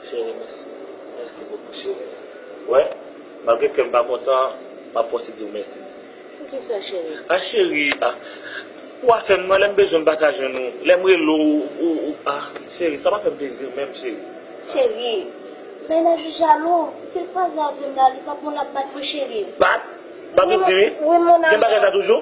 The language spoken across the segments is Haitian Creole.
Chérie mèsi. Mèsi bokou chérie. Ou wè, malgre kè m pa kontan, m ap fòse di w mèsi. Poukisa chérie? Ah chérie, ah. Ou afè m nan, lè m bezwen m pa ka jwenn ou, lè m rele w, ou, ou, ah. Chérie, sa pa fè m plezi menm chérie. Chérie, mennaj ou jalou, si l kwaze avè m la, li p ap bon l ap bat mwen chérie. Bat? Bat ou di wi? Wi mon amour. Gen bagay sa toujou?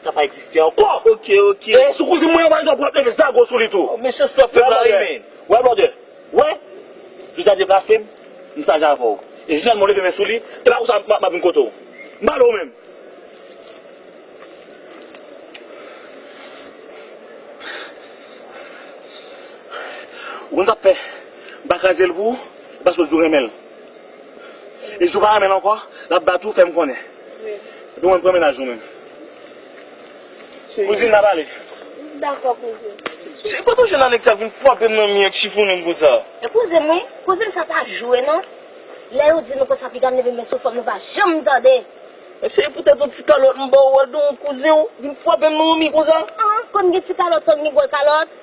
Sa pa egziste ankò. Ok ok. E sou kouzin mwen an pa gen dwa pou lap leve zago sou li tou. Oh mesye sa fem la ri men. Wè blòdè, wè, jou sa deplase m, m saj avè w. E jou nan mwen leve men sou li, e pa konsa map vin kote w. M pale w menm. Ou konn sa m fè, m pa kraze l pou ou, e paske w di w renmen l. Ijou pa renmenl ankò lap bat ou fèm konnen epi ou menm pran mennaj ou menm kouzin nap ale. M dakò kouzin. Cheri kote ou jwenn a nèg sa vin fwapem nan mi ak chifonem konsa. E kouzin m wi, kouzin m sa pa jwe non, lè yo di nou konsa piga m leve m met sou fòm nou pa janm tande. Men cheri pou tèt yon ti kalòt m baw wè don kouzin ou vin fwapem nan yon mi konsa. An, konn gen ti kalòt konn gen gwo kalòt.